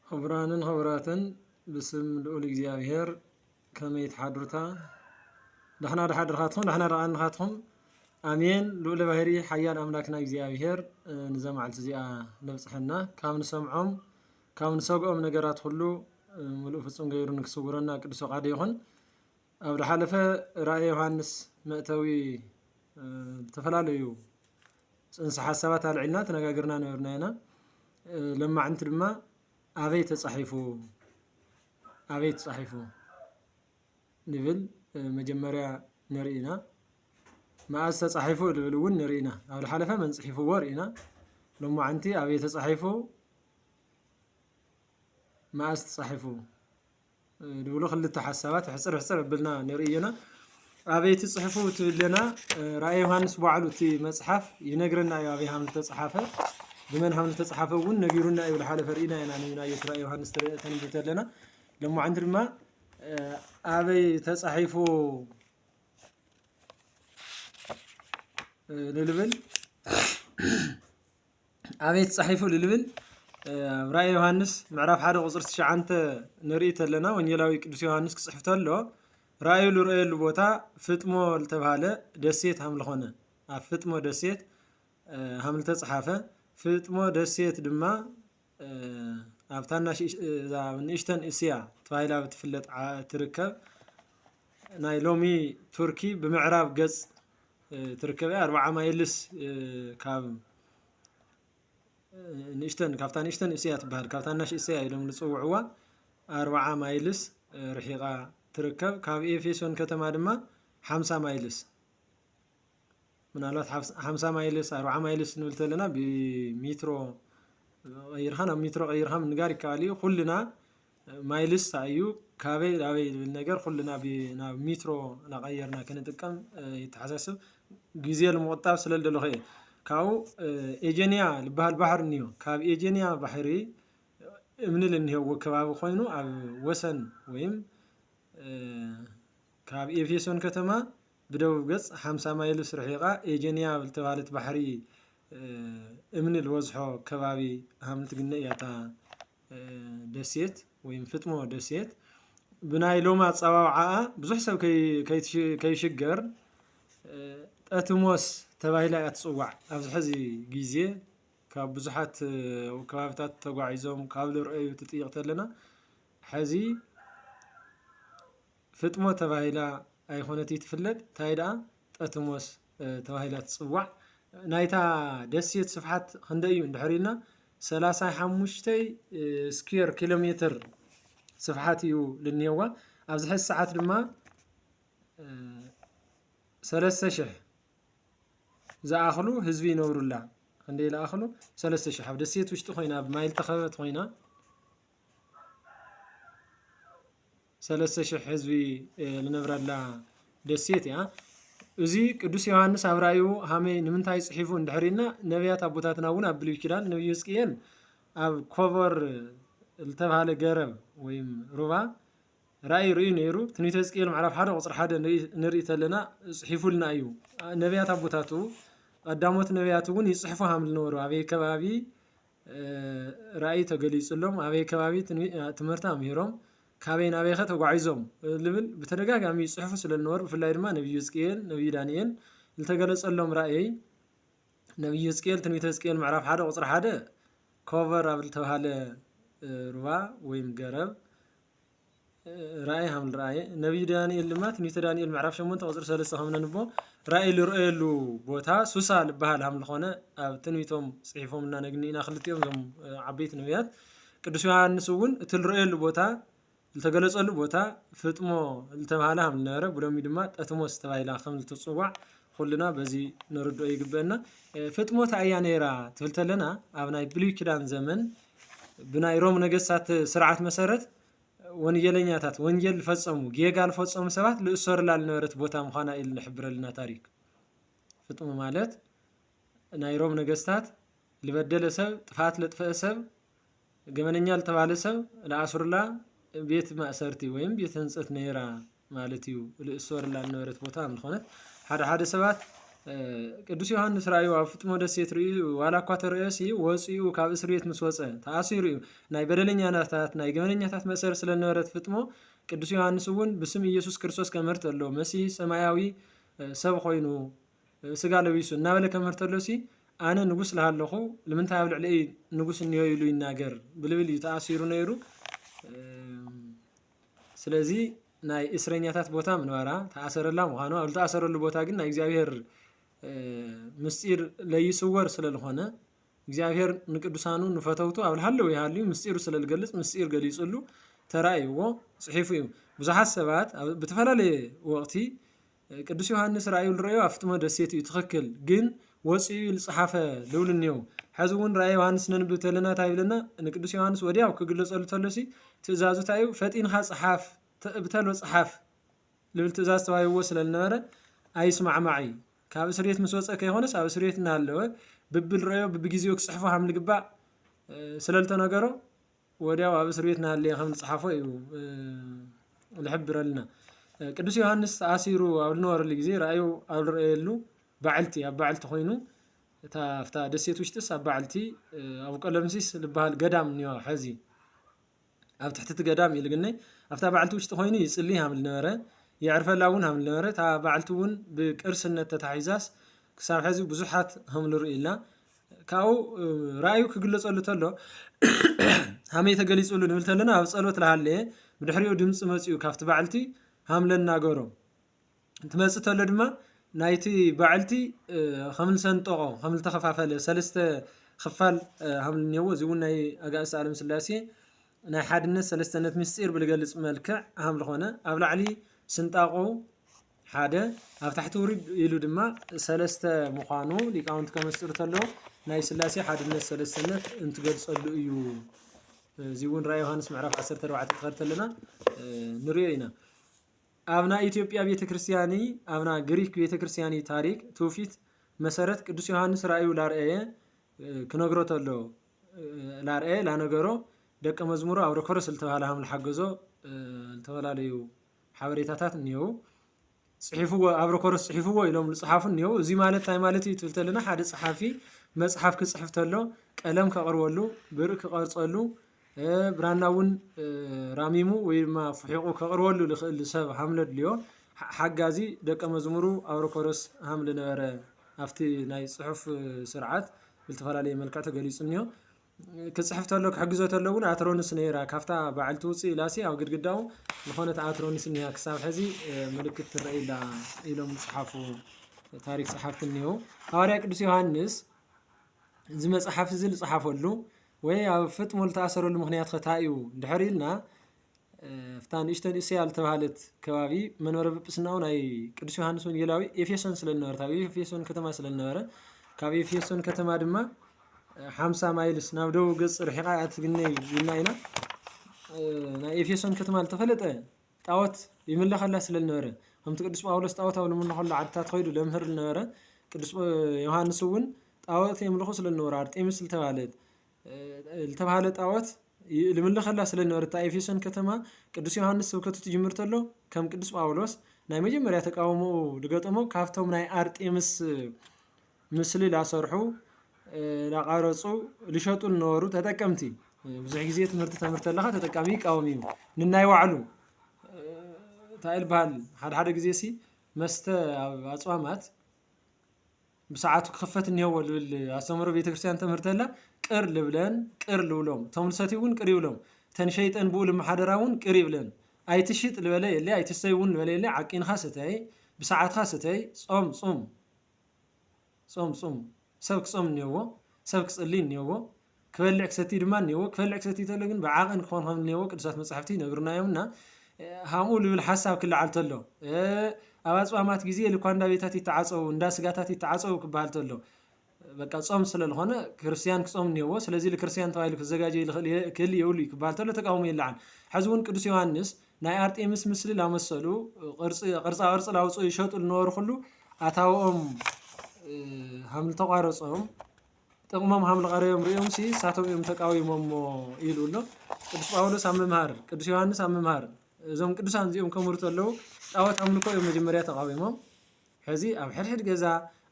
ኽቡራንን ኽቡራትን ብስም ልኡል እግዚኣብሔር ከመይ ትሓድሩታ ዳሕና ዳሓድርኻትኹም ዳሕና ዳኣንኻትኹም ኣሜን ልኡለ ባህሪ ሓያል ኣምላክና እግዚኣብሔር ንዛ መዓልቲ እዚኣ ነብፅሐና ካብ ንሰምዖም ካብ ንሰግኦም ነገራት ኩሉ ምሉእ ፍፁም ገይሩ ንክስውረና ቅዱስ ፈቃዱ ይኹን ኣብ ዝሓለፈ ራእየ ዮሃንስ መእተዊ ዝተፈላለዩ ፅንሰ ሓሳባት ኣልዒልና ተነጋግርና ነበርና ኢና ለማዕንቲ ድማ ኣበይ ተፃሒፉ ኣበይ ተፃሒፉ ንብል መጀመርያ ንርኢ ኢና መኣዝ ተፃሒፉ ዝብል እውን ንርኢ ኢና ኣብ ዝሓለፈ መን ፅሒፍዎ ርኢና ሎማዓንቲ ኣበይ ተፃሒፉ መኣዝ ተፃሒፉ ድብሉ ክልተ ሓሳባት ሕፅር ሕፅር ኣብልና ንርእዮና ኣበይቲ ፅሑፉ ትብለና ራእይ ዮሃንስ ባዕሉ እቲ መፅሓፍ ይነግረና እዩ ኣበይ ሃም ዝተፅሓፈ ብመን ሃም ዝተፅሓፈ እውን ነጊሩና እዩ ዝሓለፈ ርኢና ኢና ንዩናየት ራእይ ዮሃንስ ተንብ ተለና ሎማዓንቲ ድማ ኣበይ ተፃሒፉ ንልብል ኣበይ ተጻሒፉ እሉ ልብል ኣብ ራእየ ዮሃንስ ምዕራፍ ሓደ ቁፅሪ ትሽዓንተ ንርኢ ተለና ወንጌላዊ ቅዱስ ዮሃንስ ክጽሕፍ ተሎ ራእዩ ዝረአየሉ ቦታ ፍጥሞ ዝተባሃለ ደሴት ሃም ዝኾነ ኣብ ፍጥሞ ደሴት ሃም ዝተጽሓፈ ፍጥሞ ደሴት ድማ ኣብታ ንእሽተን እስያ ተባሂላ ብትፍለጥ ትርከብ ናይ ሎሚ ቱርኪ ብምዕራብ ገፅ ትርከብ እያ ኣርብዓ ማይልስ ካብ ንእሽተን ካብታ ንእሽተን እስያ ትበሃል ካብ ታናሽ እስያ ኢሎም ዝፅውዕዋ ኣርብዓ ማይልስ ርሒቓ ትርከብ ካብ ኤፌሶን ከተማ ድማ ሓምሳ ማይልስ ምናልባት ሓምሳ ማይልስ ኣርብዓ ማይልስ ንብል ተለና ብሜትሮ ቀይርካ ናብ ሜትሮ ቀይርካ ምንጋር ይከኣል እዩ። ኩልና ማይልስ እንታይ እዩ ካበይ ናበይ ዝብል ነገር ኩልና ናብ ሜትሮ እናቀየርና ክንጥቀም የተሓሳስብ። ግዜ ንምቁጣብ ስለ ዝደለኩ እየ። ካብኡ ኤጀንያ ዝባሃል ባሕሪ እኒኦ ካብ ኤጀንያ ባሕሪ እምኒ ዝኒሀዎ ከባቢ ኮይኑ ኣብ ወሰን ወይም ካብ ኤፌሶን ከተማ ብደቡብ ገጽ ሓምሳ ማይልስ ርሒቓ ኤጀንያ ኣብ እተባህለት ባሕሪ እምኒ ልወዝሖ ከባቢ ሃም ልትግነ እያ እታ ደሴት ወይም ፍጥሞ ደሴት። ብናይ ሎም ኣጸዋውዓኣ ብዙሕ ሰብ ከይሽገር ጠትሞስ ተባሂላ እያ ትጽዋዕ። ኣብዚ ሕዚ ግዜ ካብ ብዙሓት ከባብታት ተጓዒዞም ካብ ልርአዩ ትጥይቕ ተለና ሕዚ ፍጥሞ ተባሂላ ኣይኮነትይ ትፍለጥ ታይ ድኣ ጠትሞስ ተባሂላ ትፅዋዕ ናይታ ደሴት ስፍሓት ክንደይ እዩ እንድሕር ኢልና ሰላሳ ሓሙሽተ ስኩየር ኪሎ ሜትር ስፍሓት እዩ ልንሄዋ ኣብዚ ሕዚ ሰዓት ድማ ሰለስተ ሽሕ ዝኣኽሉ ህዝቢ ይነብሩላ ክንደይ ዝኣኽሉ ሰለስተ ሽሕ ኣብ ደሴት ውሽጢ ኮይና ኣብ ማይ ዝተኸበበት ኮይና ሰለስተ ሽሕ ህዝቢ ልነብረላ ደሴት እያ። እዚ ቅዱስ ዮሃንስ ኣብ ራእዩ ሃመይ ንምንታይ ጽሒፉ እንድሕር ኢልና ነቢያት ኣቦታትና እውን ኣብ ብሉይ ኪዳን ነብዩ ህዝቅኤል ኣብ ኮቦር ዝተባሃለ ገረብ ወይም ሩባ ራእይ ርእዩ ነይሩ ትንቢተ ህዝቅኤል ምዕራፍ ሓደ ቁፅሪ ሓደ ንርኢ ተለና ጽሒፉልና እዩ ነቢያት ኣቦታቱ ቀዳሞት ነቢያት እውን ይጽሕፉ ሃም ዝነበሩ ኣበይ ከባቢ ራእይ ተገሊፅሎም ኣበይ ከባቢ ትምህርቲ ኣምሂሮም ካበይ ናበይኸ ተጓዒዞም ልብል ብተደጋጋሚ ይፅሕፉ ስለልነበሩ ብፍላይ ድማ ነብዩ ህዝቅኤል ነብዩ ዳንኤል ዝተገለፀሎም ራእይ ነብዩ ህዝቅኤል ትንቢተ ህዝቅኤል ምዕራፍ ሓደ ቁፅሪ ሓደ ኮቨር ኣብ ዝተባሃለ ሩባ ወይም ገረብ ራእይ ሃብ ንረኣየ ነቢይ ዳንኤል ድማ ትንቢተ ዳንኤል ምዕራፍ 8 ቁፅሪ 3 ከም ነንቦ ራእይ ዝረኣየሉ ቦታ ሱሳ ዝበሃል ሃም ዝኾነ ኣብ ትንቢቶም ፅሒፎም እና ነግኒና ክልቲኦም እዞም ዓበይቲ ነቢያት ቅዱስ ዮሃንስ እውን እቲ ዝረኣየሉ ቦታ ዝተገለጸሉ ቦታ ፍጥሞ ዝተባሃለ ሃም ዝነበረ ብሎሚ ድማ ጠትሞስ ተባሂላ ከም ዝትፅዋዕ ኩልና በዚ ንርድኦ ይግበአና ፍጥሞ እንታይ እያ ነይራ ትብል ተለና ኣብ ናይ ብሉይ ኪዳን ዘመን ብናይ ሮም ነገስታት ስርዓት መሰረት ወንጀለኛታት ወንጀል ዝፈፀሙ ጌጋ ዝፈፀሙ ሰባት ዝእሰሩላ ዝነበረት ቦታ ምዃና እዩ ዝሕብረልና ታሪክ ፍጥሙ ማለት ናይ ሮም ነገስታት ልበደለ ሰብ ጥፋት ለጥፈአ ሰብ ገመነኛ ልተባለ ሰብ ለኣስሩላ ቤት ማእሰርቲ ወይም ቤት ህንፀት ነይራ ማለት እዩ ልእሶርላ ነበረት ቦታ ምዝኾነት ሓደ ሓደ ሰባት ቅዱስ ዮሃንስ ራእዩ ኣብ ፍጥሞ ደሴት ርእዩ ዋላ እኳ ተርእዮ ሲ ወፅኡ ካብ እስር ቤት ምስ ወፀ ተኣሲሩ እዩ ናይ በደለኛናታት ናይ ገበነኛታት መእሰር ስለ ነበረት ፍጥሞ ቅዱስ ዮሃንስ እውን ብስም ኢየሱስ ክርስቶስ ከምህርት ኣሎ መሲ ሰማያዊ ሰብ ኮይኑ ስጋ ለቢሱ እናበለ ከምህርት ኣሎ ሲ ኣነ ንጉስ ለሃለኹ ልምንታይ ኣብ ልዕለይ ንጉስ እኒዮ ኢሉ ይናገር ብልብል እዩ ተኣሲሩ ነይሩ ስለዚ ናይ እስረኛታት ቦታ ምንባራ ተኣሰረላ ምዃኑ ኣብ ዝተኣሰረሉ ቦታ ግን ናይ እግዚኣብሔር ምስጢር ለይስወር ስለልኾነ እግዚኣብሔር ንቅዱሳኑ ንፈተውቱ ኣብ ልሃለዉ ይሃልዩ ምስጢሩ ስለ ዝገልጽ ምስጢር ገሊጽሉ ተራእይዎ ጽሒፉ እዩ ብዙሓት ሰባት ብተፈላለየ ወቕቲ ቅዱስ ዮሃንስ ራእዩ ልረዮ ኣፍጥሞ ደሴት እዩ ትኽክል ግን ወፂኡ እዩ ልፅሓፈ ልብሉ እኒው ሐዚ እውን ራእየ ዮሃንስ ነንብብ ተለና እንታይ ይብለና ንቅዱስ ዮሃንስ ወዲያው ክግለፀሉ ተሎሲ ትእዛዙ እንታይ እዩ ፈጢንኻ ፀሓፍ ብተሎ ፀሓፍ ልብል ትእዛዝ ተዋሂብዎ ስለልነበረ ኣይስማዕማዕ እዩ ካብ እስር ቤት ምስ ወፀ ከይኮነስ ኣብ እስር ቤት እናሃለወ ብብልረዮ ብብጊዜኡ ክፅሕፎ ሃም ልግባእ ስለልተነገሮ ወዲያው ኣብ እስር ቤት እናሃለየ ከም ዝጸሓፎ እዩ ዝሕብረልና። ቅዱስ ዮሃንስ ተኣሲሩ ኣብ ዝነበረሉ ግዜ ራእዩ ኣብ ዝረኣየሉ ባዕልቲ ኣብ ባዕልቲ ኮይኑ እታ ኣብታ ደሴት ውሽጢስ ኣብ ባዕልቲ ኣብ ቀለምሲስ ዝበሃል ገዳም እኒኦ ሐዚ ኣብ ትሕቲ እቲ ገዳም እዩ ልግነይ ኣብታ ባዕልቲ ውሽጢ ኮይኑ ይጽልይ ሃም ዝነበረ የዕርፈላ እውን ሃም ዝነበረ እታ ባዕልቲ እውን ብቅርስነት ተታሒዛስ ክሳብ ሐዚ ብዙሓት ሃም ዝርእዩላ ካብኡ ራእዩ ክግለጸሉ ተሎ ሃመይ ተገሊጹሉ ንብል ተለና ኣብ ጸሎት ለሃለየ ብድሕሪኡ ድምፂ መፅኡ ካብቲ ባዕልቲ ሃምለ እናገሮ እንትመፅ ተሎ ድማ ናይቲ ባዕልቲ ከምልሰንጠቆ ከምልተኸፋፈለ ሰለስተ ክፋል ሃምል እኒአዎ እዚ እውን ናይ ኣጋእዝተ ዓለም ስላሴ ናይ ሓድነት ሰለስተነት ምስጢር ብልገልፅ መልክዕ ሃምል ኾነ ኣብ ላዕሊ ስንጣቆ ሓደ ኣብ ታሕቲ ውሪድ ኢሉ ድማ ሰለስተ ምዃኑ ሊቃውንቲ ከመስጥሩ ተለዉ ናይ ስላሴ ሓድነት ሰለስተነት እንትገልጸሉ እዩ እዚ እውን ራእይ ዮሃንስ ምዕራፍ 14 ትኸድ ተለና ንሪኦ ኢና ኣብና ኢትዮጵያ ቤተ ክርስቲያኒ ኣብና ግሪክ ቤተ ክርስቲያኒ ታሪክ ትውፊት መሰረት ቅዱስ ዮሃንስ ራእዩ ላርአየ ክነግሮ ተሎ ላርአየ ላነገሮ ደቀ መዝሙሩ ኣብ ረኮረስ ዝተባሃለ ሃም ዝሓገዞ ዝተፈላለዩ ሓበሬታታት እኒአዉ። ጽሒፍዎ ኣብ ረኮርስ ጽሒፍዎ ኢሎም ዝጽሓፉ እኒአዉ። እዚ ማለት እንታይ ማለት እዩ ትብል ተለና ሓደ ጸሓፊ መጽሓፍ ክጽሕፍ ተሎ ቀለም ከቕርበሉ፣ ብእር ክቐርጸሉ፣ ብራና እውን ራሚሙ ወይ ድማ ፍሒቑ ከቕርበሉ ዝኽእል ሰብ ሃምለ ድልዮ። ሓጋዚ ደቀ መዝሙሩ ኣብረኮርስ ሃምለ ነበረ። ኣብቲ ናይ ጽሑፍ ስርዓት ብልተፈላለየ መልክዕ ተገሊጹ እኒኦ። ክጽሕፍ ተሎ ክሕግዞ ተሎ ውን ኣትሮንስ ነይራ ካብታ በዓልቲ ውጽእ ኢላሲ ኣብ ግድግዳኡ ዝኾነት ኣትሮንስ እኒሃ ክሳብ ሕዚ ምልክት ትረኣይላ ኢሎም ዝጽሓፉ ታሪክ ጸሓፍቲ እኒሀው ሃዋርያ ቅዱስ ዮሃንስ እዚ መጽሓፍ እዚ ዝጸሓፈሉ ወይ ኣብ ፍጥሞ ዝተኣሰረሉ ምክንያት ከታይ እዩ እንድሕር ኢልና ኣብታ ንእሽተን እስያ ዝተባህለት ከባቢ መንበረ ጵጵስናኡ ናይ ቅዱስ ዮሃንስ ወንጌላዊ ኤፌሶን ስለ ዝነበረት ኣብ ኤፌሶን ከተማ ስለ ዝነበረ ካብ ኤፌሶን ከተማ ድማ ሓምሳ ማይልስ ናብ ደቡብ ገፅ ርሒቓ እያ ትግነይ ኢልና ኢና ናይ ኤፌሶን ከተማ ዝተፈለጠ ጣዖት ይምለኸላ ስለ ዝነበረ ከምቲ ቅዱስ ጳውሎስ ጣዖት ኣብ ዝምለኸሉ ዓድታት ኮይዱ ለምህር ዝነበረ ቅዱስ ዮሃንስ እውን ጣዖት የምልኹ ስለ ዝነበሩ ኣርጤምስ ዝተባህለት ዝተባህለ ጣዖት ልምልኸላ ስለ ዝነበረ እታ ኤፌሶን ከተማ ቅዱስ ዮሃንስ ስብከቱ ትጅምር ተሎ ከም ቅዱስ ጳውሎስ ናይ መጀመርያ ተቃውሞኡ ዝገጠሞ ካብቶም ናይ ኣርጤምስ ምስሊ ላሰርሑ ላቃረፁ ልሸጡ ዝነበሩ ተጠቀምቲ ብዙሕ ግዜ ትምህርቲ ተምህርቲ ኣለካ ተጠቃሚ ይቃወም እዩ ንናይ ባዕሉ እንታይ ይበሃል ሓደ ሓደ ግዜ ሲ መስተ ኣብ ኣፅዋማት ብሰዓቱ ክኽፈት እኒሀዎ ልብል ኣስተምህሮ ቤተ ክርስቲያን ተምህርተላ ቅር ልብለን ቅር ልብሎም እቶም ልሰትዩ እውን ቅር ይብሎም እተን ሸይጠን ብኡ ልመሓደራ እውን ቅር ይብለን ኣይትሽጥ ልበለ የለ ኣይትስተይ እውን ልበለ የለ ዓቂንኻ ስተይ ብሰዓትኻ ስተይ ጾም ጹም ጾም ጹም ሰብ ክጾም እኒሀዎ ሰብ ክጽልይ እኒሀዎ ክበልዕ ክሰቲ ድማ እኔዎ። ክበልዕ ክሰቲ ተሎ ግን ብዓቐን ክኾን ከም እኔዎ ቅዱሳት መጻሕፍቲ ይነግሩና እዮም እና ሃምኡ ልብል ሓሳብ ክለዓል ተሎ ኣብ ኣጽዋማት ግዜ ልኳ እንዳ ቤታት ይተዓጸው እንዳ ስጋታት ይተዓጸው ክበሃል ተሎ በቃ ጾም ስለልኾነ ክርስቲያን ክጾም እኔዎ ስለዚህ ልክርስቲያን ተባሂሉ ክዘጋጀ ክህል የብሉ እዩ ክበሃል ተሎ ተቃውሞ ይለዓል። ሕዚ እውን ቅዱስ ዮሐንስ ናይ ኣርጤምስ ምስሊ ላመሰሉ ቅርጻ ቅርጺ ላውጽኡ ይሸጡ ልነበሩ ኩሉ ኣታውኦም ሃምልተቋረጾም ጥቕሞም ሃምልቐረዮም ርእዮምሲ ንሳቶም እዮም ተቃዊሞሞ ኢሉ ኣሎ ቅዱስ ጳውሎስ ኣብ ምምሃር ቅዱስ ዮሃንስ ኣብ ምምሃር እዞም ቅዱሳን እዚኦም ከምህሩ ተለዉ ጣዖት ኣምልኮ እዮም መጀመርያ ተቃዊሞም ሕዚ ኣብ ሕድሕድ ገዛ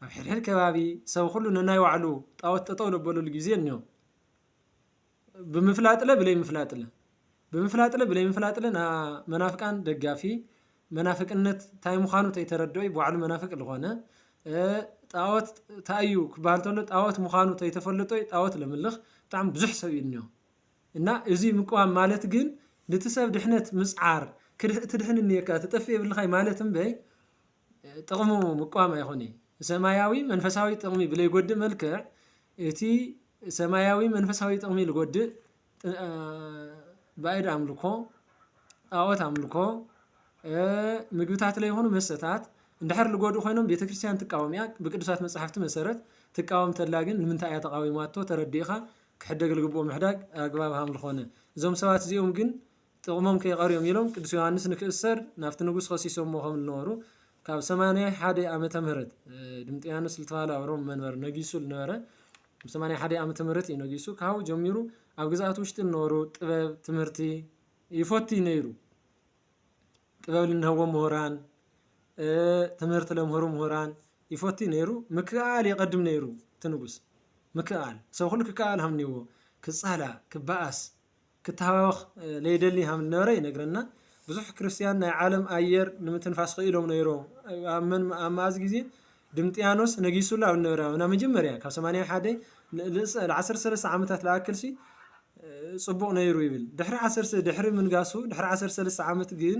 ኣብ ሕድሕድ ከባቢ ሰብ ኩሉ ነናይ ባዕሉ ጣዖት ጠጠው ለበለሉ ጊዜ እኒኦ ብምፍላጥለ ብለይምፍላጥለ ብምፍላጥለ ብለይምፍላጥለ ና መናፍቃን ደጋፊ መናፍቅነት ታይ ምዃኑ ተይተረድኦ ባዕሉ መናፍቅ ዝኾነ ጣዖት ታዩ ክበሃል ተሎ ጣዖት ምዃኑ ተይተፈለጦ ጣዖት ለምልኽ ብጣዕሚ ብዙሕ ሰብ እዩ እኒኦ እና እዚ ምቅዋም ማለት ግን ንቲ ሰብ ድሕነት ምፅዓር ክድህ ትድሕን እኒኦካ ትጠፍእ የብልኻይ ማለት እምበይ ጥቕሙ ምቅዋም ኣይኹን ሰማያዊ መንፈሳዊ ጥቕሚ ብለይጎድእ መልክዕ እቲ ሰማያዊ መንፈሳዊ ጥቕሚ ልጎድእ ባእድ ኣምልኮ ጣዖት ኣምልኮ ምግብታት ለይሆኑ መሰታት እንድሕር ልጎዱ ኾይኖም ቤተ ክርስቲያን ትቃወም እያ ብቅዱሳት መጽሕፍቲ መሠረት ትቃወም ተላ ግን ንምንታይ እያ ተቓዊማቶ ተረዲእኻ ክሕደግ ልግብኦ ምሕዳግ ኣግባብ ሃምልኾነ እዞም ሰባት እዚኦም ግን ጥቕሞም ከይቐርዮም ኢሎም ቅዱስ ዮሃንስ ንክእሰር ናብቲ ንጉስ ኸሲሶምዎ ከም ልነበሩ ካብ ሰማንያ ሓደ ኣመተ ምህረት ድምጥያኖስ ልተባህለ ኣብ ሮም መንበር ነጊሱ ልነበረ ኣብ ሰማንያ ሓደ ኣመተ ምህረት እዩ ነጊሱ ካብኡ ጀሚሩ ኣብ ግዝኣት ውሽጢ ልነበሩ ጥበብ ትምህርቲ ይፈቱ ነይሩ ጥበብ ልንህቦም ምሁራን ትምህርቲ ለምህሩ ምሁራን ይፈቱ ነይሩ ምክኣል የቐድም ነይሩ እቲ ንጉስ ምክኣል ሰብ ኩሉ ክከኣል ሃምኒዎ ክጻላ ክበኣስ ክተሃባበኽ ለይደሊ ሃም ልነበረ ይነግረና። ብዙሕ ክርስትያን ናይ ዓለም ኣየር ንምትንፋስ ክኢሎም ነይሮም። ኣብ መን ኣብ መኣዝ ግዜ ድምጥያኖስ ነጊሱሉ ኣብ ነበረ ኣብ ናብ መጀመርያ ካብ 81 ን- ልእሰ- ል 13 ዓመታት ልኣክልሲ እ፣ ጽቡቕ ነይሩ ይብል። ድሕሪ ዓሰርተ ድሕሪ ምንጋሱ ድሕሪ ዓሰርተ ሰለስተ ዓመት ግን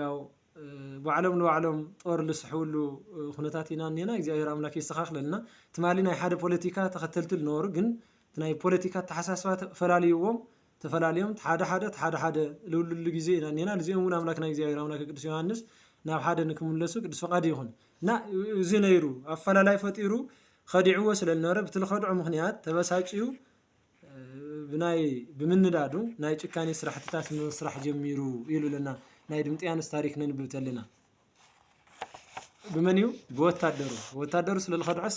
ያው ባዕሎም ንባዕሎም ጦር ልስሕብሉ ኩነታት ኢና እኔና እግዚኣብሔር ኣምላክ የስተኻኽለልና። ትማሊ ናይ ሓደ ፖለቲካ ተኸተልቲ ልነበሩ ግን እቲ ናይ ፖለቲካ ኣተሓሳስባ ፈላልይዎም ተፈላልዮም ሓደ ሓደ እቲ ሓደ ሓደ ልብልሉ ጊዜ ኢና እኔና ልዚኦም እውን ኣምላክና እግዚኣብሔር ኣምላከ ቅዱስ ዮሐንስ ናብ ሓደ ንክምለሱ ቅዱስ ፈቃዱ ይኹን እና እዚ ነይሩ ኣፈላላይ ፈጢሩ ኸዲዕዎ ስለ ልነበረ ብቲ ልኸድዖ ምኽንያት ተበሳጭዩ ብናይ ብምንዳዱ ናይ ጭካኔ ስራሕትታት ምስራሕ ጀሚሩ ኢሉ ለና ናይ ድምጥያንስ ታሪክ ነንብብ ተለና ብመን እዩ ብወታደሩ ወታደሩ ስለ ዝኸድዐስ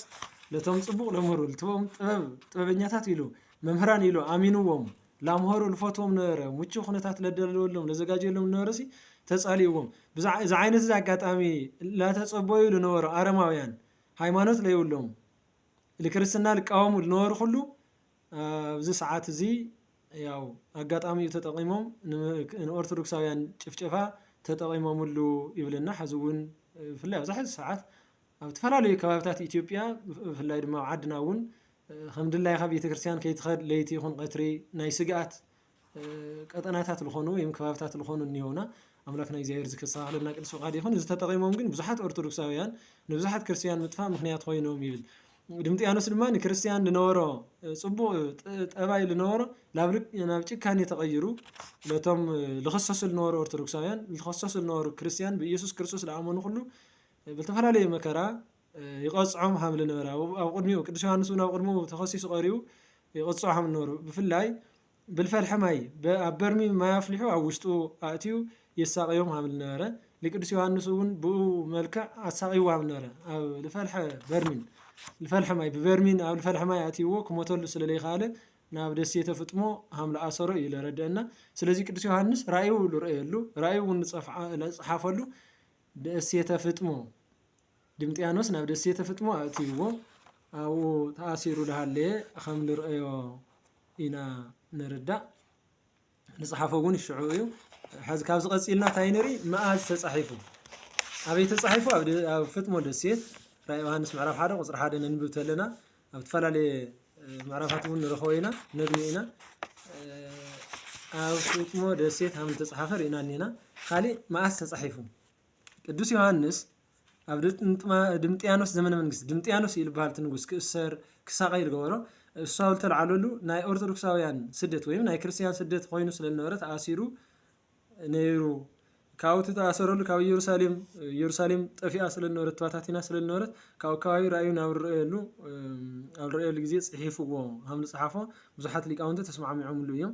ነቶም ፅቡቕ ለምህሩ ልትቦም ጥበብ ጥበበኛታት ኢሉ መምህራን ኢሉ ኣሚንዎም ላምሀሩ ልፈትዎም ነበረ ምቹ ኩነታት ለደለወሎም ለዘጋጀሎም ነበረሲ ተፃሊእዎም እዚ ዓይነት እዚ ኣጋጣሚ ላተፀበዩ ልነበሩ ኣረማውያን ሃይማኖት ለይብሎም ልክርስትና ልቃወሙ ልነበሩ ኩሉ ኣብዚ ሰዓት እዚ ያው ኣጋጣሚኡ ተጠቂሞም ንኦርቶዶክሳውያን ጭፍጨፋ ተጠቂሞምሉ ይብለና ሕዚ እውን ብፍላይ ኣብዚ ሕዚ ሰዓት ኣብ ዝተፈላለዩ ከባቢታት ኢትዮጵያ ብፍላይ ድማ ኣብ ዓድና እውን ከም ድላይካ ቤተክርስትያን ከይትኸድ ለይቲ ይኹን ቀትሪ ናይ ስግኣት ቀጠናታት ልኾኑ ወይም ከባብታት ልኾኑ እኒኦውና ኣምላክና እግዚኣብሔር ዝክሳኻለና ቅዱስ ፍቃድ ይኹን እዚ ተጠቂሞም ግን ብዙሓት ኦርቶዶክሳውያን ንብዙሓት ክርስትያን ምጥፋእ ምክንያት ኮይኖም ይብል ድምጥያኖስ ድማ ንክርስትያን ልነበሮ ጽቡቅ ጠባይ ልነበሮ ናብ ጭካኔ ተቀይሩ ነቶም ልኸሰሱ ልነበሩ ኦርቶዶክሳውያን ልኸሰሱ ልነበሩ ክርስትያን ብኢየሱስ ክርስቶስ ልኣመኑ ኩሉ ብልተፈላለየ መከራ ይቐጽዖም ሃምል ነበረ። ኣብ ኣብ ቅድሚኡ ቅዱስ ዮሃንስ እውን ኣብ ቅድሚኡ ተኸሲሱ ቀሪቡ ይቐጽዖ ሃምል ነበሩ። ብፍላይ ብልፈልሐ ማይ ኣብ በርሚ ማይ ኣፍሊሑ ኣብ ውሽጡ ኣእትዩ የሳቕዮም ሃምል ነበረ። ንቅዱስ ዮሃንስ እውን ብኡ መልክዕ ኣሳቒዎ ሃምል ነበረ። ኣብ ልፈልሐ በርሚን ልፈልሐ ማይ ብበርሚን ኣብ ልፈልሐ ማይ ኣእትይዎ ክሞተሉ ስለ ለይከኣለ ናብ ደሴተ ፍጥሞ ሃምል ኣሰሮ እዩ ለረድአና። ስለዚ ቅዱስ ዮሃንስ ራእዩ ልርእየሉ ራእዩ እውን ልጸሓፈሉ ደሴተ ፍጥሞ ድምጥያኖስ ናብ ደሴተ ፍጥሞ ኣእትይዎ ኣብኡ ተኣሲሩ ዳሃለየ ኸም ንርእዮ ኢና ንርዳእ ንጽሓፎ ውን ሽዑ እዩ ሐዚ ካብዚ ቀጺልና እንታይ ንርኢ መኣዝ ተጻሒፉ ኣበይ ተጻሒፉ ኣብ ፍጥሞ ደሴት ራእ ዮሃንስ ምዕራፍ ሓደ ቁጽሪ ሓደ ነንብብ ተለና ኣብ ተፈላለየ ምዕራፋት እውን ንረኸቦ ኢና ነግኒ ኢና ኣብ ፍጥሞ ደሴት ሃም ተጻሓፈ ርኢና እኒና ካሊእ መኣዝ ተጻሒፉ ቅዱስ ዮሃንስ ኣብ ድምጥያኖስ ዘመነ መንግስቲ ድምጥያኖስ እዩ ዝበሃል እቲ ንጉስ ክእሰር ክሳቐይ ዝገበሮ እሱ ኣብ ዝተልዓለሉ ናይ ኦርቶዶክሳውያን ስደት ወይም ናይ ክርስትያን ስደት ኮይኑ ስለ ዝነበረ ተኣሲሩ ነይሩ ካብኡ እቲ ተኣሰረሉ ካብ ኢየሩሳሌም ኢየሩሳሌም ጠፊኣ ስለ ዝነበረት ተባታቲና ስለ ዝነበረት ካብኡ ከባቢ ራእዩ ናብ ዝረኣየሉ እም፣ ኣብ ዝረኣየሉ ግዜ ጽሒፍዎ ከም ዝጸሓፎ ብዙሓት ሊቃውንቲ ተስማዕሚዖምሉ እዮም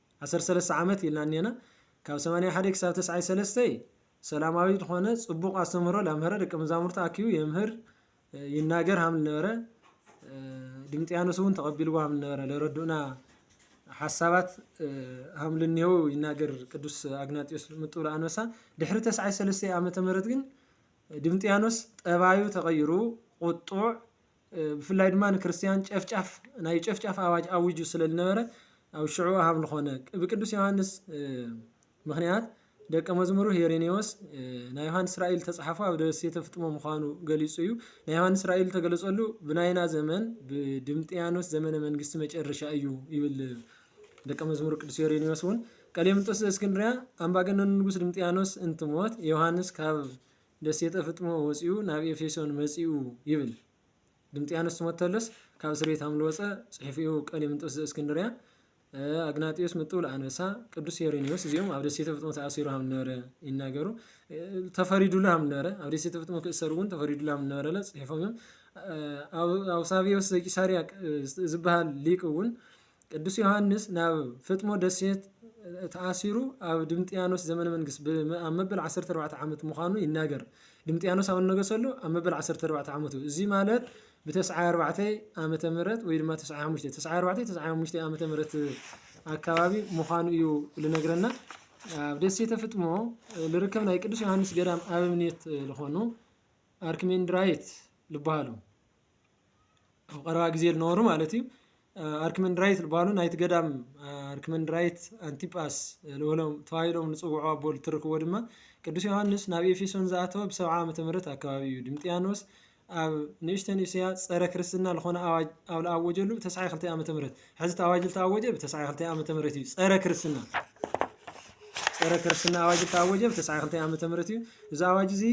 ዓሰርተ ሰለስተ ዓመት ኢልና እኔና ካብ ሰማንያ ሓደ ክሳብ ተስዓይ ሰለስተ ሰላማዊ ዝኾነ ጽቡቕ ኣስተምህሮ ላምህረ ደቂ መዛሙርቲ ኣኪቡ የምህር ይናገር ሃም ነበረ ድምጥያኖስ እውን ተቐቢልዎ ሃም ነበረ ለረዱእና ሓሳባት ሃም ልኔው ይናገር ቅዱስ ኣግናጢዮስ ምጥብሎ ኣንበሳ ድሕሪ ተስዓይ ሰለስተ ዓመተ ምህረት ግን ድምጥያኖስ ጠባዩ ተቐይሩ ቁጡዕ ብፍላይ ድማ ንክርስትያን ጨፍጫፍ ናይ ጨፍጫፍ ኣዋጅ ኣዊጁ ስለ ዝነበረ ኣብ ሽዑ ሃም ዝኾነ ብቅዱስ ዮሃንስ ምክንያት ደቀ መዝሙሩ ሄሬኔዎስ ናይ ዮሃንስ ራእይ ዝተጻሓፎ ኣብ ደሴተ ፍጥሞ ምዃኑ ገሊጹ እዩ። ናይ ዮሃንስ ራእይ ዝተገለጸሉ ብናይና ዘመን ብድምጥያኖስ ዘመነ መንግስቲ መጨረሻ እዩ ይብል ደቀ መዝሙሩ ቅዱስ ሄሬኔዎስ እውን ቀሌምንጦስ ዘእስክንድርያ ኣምባገነኑ ንጉስ ድምጥያኖስ እንትሞት ዮሃንስ ካብ ደሴተ ፍጥሞ ወጺኡ ናብ ኤፌሶን መጺኡ ይብል ድምጥያኖስ ትሞተሎስ ካብ እስር ቤት ኣምልወጸ ጽሒፉ እዩ ቀሌምንጦስ ዘእስክንድርያ ኣግናጢዮስ ምጥውል ኣንበሳ ቅዱስ ሄሬኔዎስ እዚኦም ኣብ ደሴተ ፍጥሞ ተኣሲሩ ሃም ነበረ ይናገሩ ተፈሪዱሉ ሃም ነበረ ኣብ ደሴተ ፍጥሞ ክእሰሩ እውን ተፈሪዱሉ ሃም ነበረለ ጽሒፎም እዮም ኣውሳቢዮስ ዘቂሳርያ ዝበሃል ሊቅ እውን ቅዱስ ዮሓንስ ናብ ፍጥሞ ደሴት ተኣሲሩ ኣብ ድምጥያኖስ ዘመነ መንግስት ብ- ኣብ መበል 14 ዓመት ምዃኑ ይናገር። ድምጥያኖስ ኣብ እነገሰሉ ኣብ መበል 14 ዓመቱ እዚ ማለት ብተስዓይ ኣርባዕተይ ዓመተ ምህረት ወይ ድማ ተስዓይ ሓሙሽተ ተስዓይ ኣርባዕተይ ተስዓይ ሓሙሽተይ ዓመተ ምህረት ኣካባቢ ምዃኑ እዩ ልነግረና። ኣብ ደሴተ ፍጥሞ ልርከብ ናይ ቅዱስ ዮሃንስ ገዳም ኣበምኔት ልኾኑ ኣርክሜንድራይት ልበሃሉ። ኣብ ቐረባ ግዜ ልነበሩ ማለት እዩ ኣርክመንድራይት ልባሉ ናይቲ ገዳም ኣርክመንድራይት ኣንቲጳስ ልበሎም ተባሂሎም ልጽውዑ ኣቦ ልትርክዎ ድማ ቅዱስ ዮሃንስ ናብ ኤፌሶን ዝኣተወ ብሰብዓ ዓመተ ምህረት ኣከባቢ እዩ ድምጥያኖስ ኣብ ንእሽተን እስያ ጸረ ክርስትና ልኾነ ኣዋጅ ኣብ ልኣወጀሉ ብተስዓይ ክልተ ዓመተ ምህረት ሕዚ እቲ ኣዋጅ ዝተኣወጀ ብተስዓይ ክልተ ዓመተ ምህረት እዩ ፀረ ክርስትና ፀረ ክርስትና ኣዋጅ ዝተኣወጀ ብተስዓይ ክልተ ዓመተ ምህረት እዩ እዚ ኣዋጅ እዚ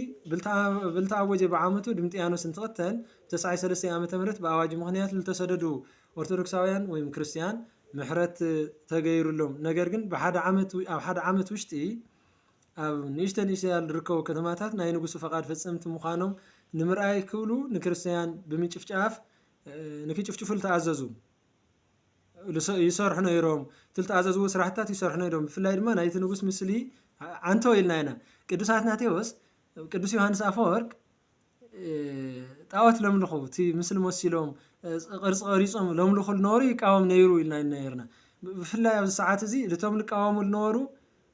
ብልተኣወጀ ብዓመቱ ድምጥያኖስ እንትቐተል ብተስዓይ ሰለስተ ዓመተ ምህረት ብኣዋጅ ምክንያት ዝተሰደዱ ኦርቶዶክሳውያን ወይም ክርስቲያን ምሕረት ተገይሩሎም ነገር ግን ብሓደ ዓመት ኣብ ሓደ ዓመት ውሽጢ ኣብ ንእሽተ ንእሽተ ያሉ ዝርከቡ ከተማታት ናይ ንጉሱ ፈቃድ ፈፀምቲ ምዃኖም ንምርኣይ ክብሉ ንክርስትያን ብምጭፍጫፍ ንክጭፍጭፉ ዝተኣዘዙ ይሰርሑ ነይሮም እቲ ዝተኣዘዝዎ ስራሕትታት ይሰርሑ ነይሮም ብፍላይ ድማ ናይቲ ንጉስ ምስሊ ዓንቶ ኢልና ኢና ቅዱስ ኣትናቴዎስ ቅዱስ ዮሃንስ ኣፈወርቅ ጣዖት ለምልኹ እቲ ምስሊ መሲሎም ቅርፂ ቀሪፆም ለምልኹ ዝነበሩ ይቃወም ነይሩ ኢልና ነይርና ብፍላይ ኣብዚ ሰዓት እዚ እቶም ዝቃወሙ ዝነበሩ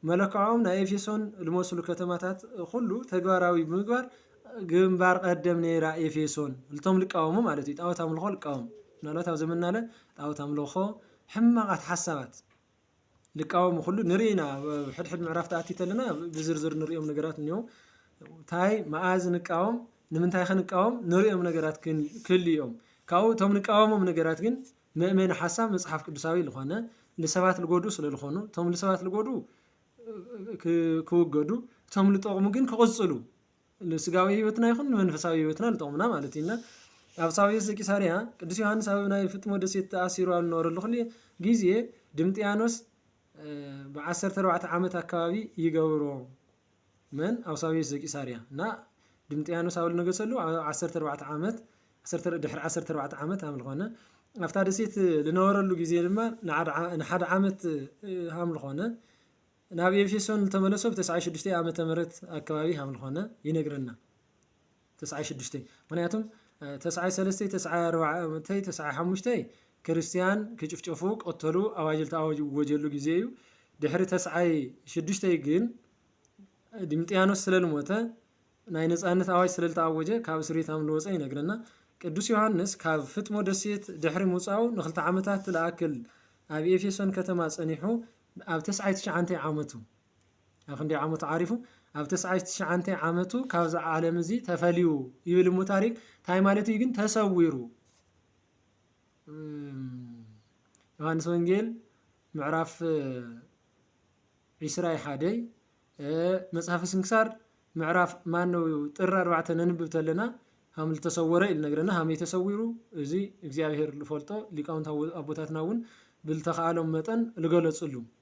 መለክዖም ናይ ኤፌሶን ልመስሉ ከተማታት ኹሉ ተግባራዊ ብምግባር ግንባር ቐደም ነይራ ኤፌሶን ልቶም ልቃወሙ ማለት እዩ ጣዖት ኣምልኾ ልቃወሙ ምናልባት ኣብ ዘመናለ ጣዖት ኣምልኾ ሕማቓት ሓሳባት ልቃወሙ ኩሉ ንርኢ ኢና ሕድሕድ ምዕራፍ ተኣቲ ተለና ብዝርዝር ንሪኦም ነገራት እኒኦ እንታይ መኣዝ ንቃወም ንምንታይ ከንቃወም ንሪኦም ነገራት ክልዮም ካብኡ እቶም ንቃወሞም ነገራት ግን መእመኒ ሓሳብ መጽሓፍ ቅዱሳዊ ልኾነ ልሰባት ልጎድኡ ስለ ልኾኑ እቶም ልሰባት ልጎድኡ ክውገዱ እቶም ልጠቕሙ ግን ክቕጽሉ ንስጋዊ ህይወትና ይኹን ንመንፈሳዊ ህይወትና ልጠቕሙና ማለት እዩና ኣብ ሳውየስ ዘቂሳርያ ቅዱስ ዮሃንስ ኣብ ናይ ፍጥሞ ደሴት ተኣሲሩ ኣብ ዝነበረሉ ክሉ ግዜ ድምጥያኖስ ብዓሰርተ ኣርባዕተ ዓመት ኣካባቢ ይገብሮ መን ኣውሳብዮስ ዘቂሳርያ ን ድምጥያኖስ ኣብ ልነገሰሉ ኣብ ዓሰርተ ኣርባዕተ ዓመት ዓሰርተ ድሕሪ ዓሰርተ ኣርባዕተ ዓመት ኣምልኾነ ኣብታ ደሴት ልነበረሉ ጊዜ ድማ ንሓደ ዓመት ኣምልኾነ ናብ ኤፌሶን ልተመለሶ ብተስዓይ ሽዱሽተይ ኣመተ ምህረት ኣከባቢ ሃምልኾነ ይነግረና። ተስዓይ ሽዱሽተይ ምክንያቱም ተስዓይ ሰለስተይ ተስዓይ ኣርባዕተይ ተስዓይ ሓሙሽተይ ክርስትያን ክጭፍጨፉ ቀተሉ ኣዋጅ ዝተኣወጀሉ ግዜ እዩ ድሕሪ ተስዓይ ሽዱሽተይ ግን ዲምጥያኖስ ስለ ልሞተ ናይ ነፃነት ኣዋጅ ስለ ዝተኣወጀ ካብ እስር ቤት ኣምልወፀ ይነግረና ቅዱስ ዮሃንስ ካብ ፍጥሞ ደሴት ድሕሪ ምውፃኡ ንክልተ ዓመታት ልኣክል ኣብ ኤፌሶን ከተማ ፀኒሑ ኣብ ተስዓይ ትሽዓንተይ ዓመቱ ኣብ ክንደይ ዓመቱ ዓሪፉ ኣብ ተስዓሽ ትሽዓንተይ ዓመቱ ካብዚ ዓለም እዚ ተፈልዩ ይብል እሞ ታሪክ እንታይ ማለት እዩ ግን ተሰዊሩ ዮሐንስ ወንጌል ምዕራፍ ዒስራይ ሓደይ መጽሓፍ ስንክሳር ምዕራፍ ማን ነው ጥር ኣርባዕተ ነንብብ ተለና ሃም ዝተሰወረ ኢሉ ነግረና ሃመይ ተሰዊሩ እዚ እግዚኣብሄር ዝፈልጦ ሊቃውንት ኣቦታትና እውን ብልተኸኣሎም መጠን ዝገለፅሉ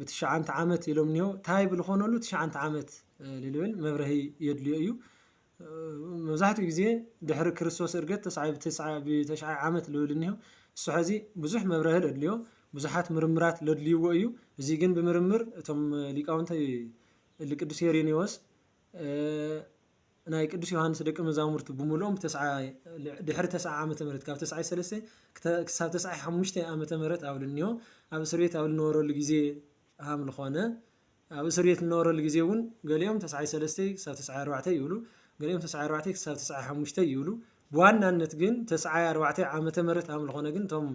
ብትሽዓንተ ዓመት ኢሎም እኒሆ ታይ ብልኾነሉ ትሽዓንተ ዓመት ልልብል መብረሂ የድልዮ እዩ መብዛሕትኡ ግዜ ድሕሪ ክርስቶስ እርገት ተስዓ ብትስዓ ብተሽዓይ ዓመት ልብል እኒሆ እሱ ሐዚ ብዙሕ መብረሂ ለድልዮ ብዙሓት ምርምራት ለድልይዎ እዩ እዚ ግን ብምርምር እቶም ሊቃውንተ ልቅዱስ ሄሬኔዎስ ናይ ቅዱስ ዮሓንስ ደቀ መዛሙርቱ ብምሉኦም ድሕሪ ተስዓ ዓመተ ምህረት ካብ ተስዓይ ሰለስተ ክሳብ ተስዓይ ሓሙሽተ ዓመተ ምህረት ኣብ ልንዮ ኣብ እስር ቤት ኣብ ልነበረሉ ግዜ ሃም ልኾነ ኣብ እስር ቤት ልነበረሉ ግዜ እውን ገሊኦም ተስዓይ ሰለስተ ክሳብ ተስዓይ ኣርባዕተ ይብሉ ገሊኦም ተስዓይ ኣርባዕተ ክሳብ ተስዓይ ሓሙሽተ ይብሉ ብዋናነት ግን ተስዓይ ኣርባዕተ ዓመተ ምህረት ሃም ልኾነ ግን እቶም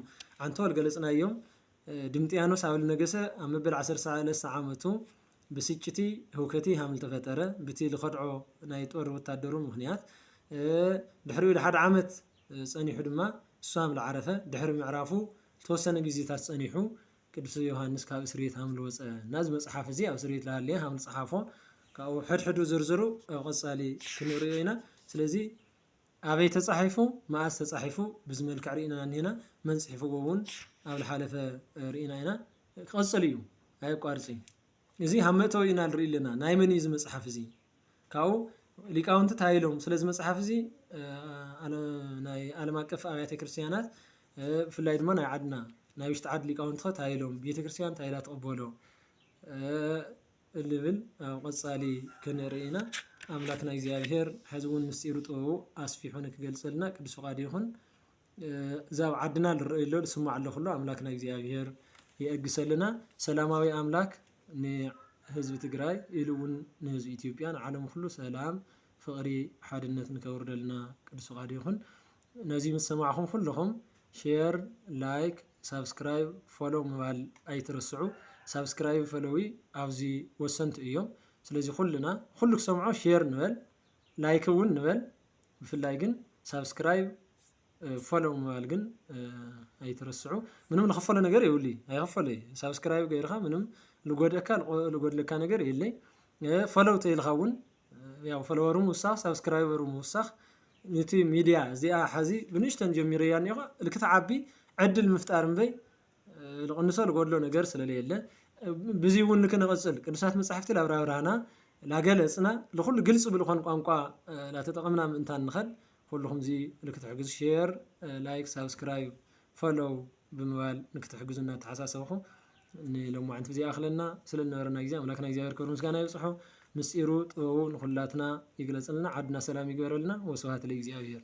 ዓንተወል ገለጽናዮም ድምጥያኖስ ኣብል ነገሰ ኣብ መበል ዓሰርተ ሰለስተ ዓመቱ ብስጭቲ ህውከቲ ሃምል ተፈጠረ ብቲ ልኸድዖ ናይ ጦር ወታደሩ ምክንያት ድሕሪኡ ልሓደ ዓመት ጸኒሑ ድማ እሱ ሃምል ዓረፈ ድሕሪ ምዕራፉ ልተወሰነ ግዜታት ጸኒሑ ቅዱስ ዮሃንስ ካብ እስርየት ሃምል ወጸ እና እዚ መጽሓፍ እዚ ኣብ እስርየት ልሃለየ ሃምል ጸሓፎ ካብኡ ሕድሕዱ ዝርዝሩ ኣብ ቐጻሊ ክንርእዮ ኢና ስለዚ ኣበይ ተጻሒፉ መኣስ ተጻሒፉ ብዚ መልክዕ ሪኢና እኒሀና መን ጽሒፍዎ እውን ኣብ ዝሓለፈ ሪኢና ኢና ክቕጽል እዩ ኣየቋርጽ እዩ እዚ ሃብ መእተዊ ኢና ንርኢ ኣለና ናይ መን እዩ እዚ መጽሓፍ እዚ ካብኡ ሊቃውንቲ እንታይ ኢሎም ስለዚ መጽሓፍ እዚ ናይ ዓለም ኣቀፍ ኣብያተ ክርስትያናት ብፍላይ ድማ ናይ ዓድና ናይ ውሽጢ ዓድ ሊቃውንቲ እንታይ ኢሎም ቤተ ክርስትያን እንታይ ኢላ ትቕበሎ እልብል ኣብ ቐጻሊ ክንርኢ ኢና ኣምላክና እግዚኣብሄር ሐዚ እውን ምስጢሩ ጥበቡ ኣስፊሑ ንክገልጸልና ቅዱስ ፍቃዱ ይኹን እዚ ኣብ ዓድና ልረኣይ ኣሎ ልስማዕ ኣሎ ኩሉ ኣምላክና እግዚኣብሄር የእግሰልና ሰላማዊ ኣምላክ ንህዝቢ ትግራይ ኢሉ እውን ንህዝቢ ኢትዮጵያ ንዓለም ኩሉ ሰላም ፍቅሪ ሓድነት ንከውርደልና ቅዱስ ፍቃዱ ይኹን። ነዚ ምስ ሰማዕኹም ኩልኹም ሼር ላይክ ሳብስክራይብ ፎሎው ምባል ኣይትረስዑ ሳብስክራይብ ፈለዊ ኣብዚ ወሰንቲ እዮም ስለዚ ኩልና ኩሉ ክሰምዖ ሼር ንበል ላይክ እውን ንበል ብፍላይ ግን ሳብስክራይብ ፎሎው ምባል ግን ኣይትረስዑ ምንም ልኸፈሎ ነገር የብሉ ኣይኸፈሎ እዩ ሳብስክራይብ ገይርኻ ምንም ልጎድእካ ልጎድለካ ነገር የለይ ፎሎው ተይልኻ እውን ያው ፎሎወሩ ምውሳኽ ሳብስክራይበሩ ምውሳኽ ዩቲብ ሚድያ እዚኣ ሐዚ ብንእሽተን ጀሚረያ እኒኦኻ እልክትዓቢ ዕድል ምፍጣር እምበይ ልቕንሶ ልጎድሎ ነገር ስለለየለ ብዙይ እውን ልክንቕፅል ቅዱሳት መፃሕፍቲ ላብራብራህና ላገለፅና ልኹሉ ግልፂ ብልኾን ቋንቋ ላተጠቐምና ምእንታን ንኸል ኩልኹም እዚ ልክትሕግዙ ሼር ላይክ ሳብስክራይብ ፈሎው ብምባል ንክትሕግዙ እናተሓሳሰብኹ ንሎማዕንቲ ብዚ ይኣኽለና። ስለ ዝነበረና ግዜ ኣምላክና እግዚኣብሔር ክብሪ ምስጋና ይብጽሖ። ምስጢሩ ጥበቡ ንኹላትና ይግለጽልና ዓድና ሰላም ይግበረልና ወስብሃት ለእግዚኣብሔር።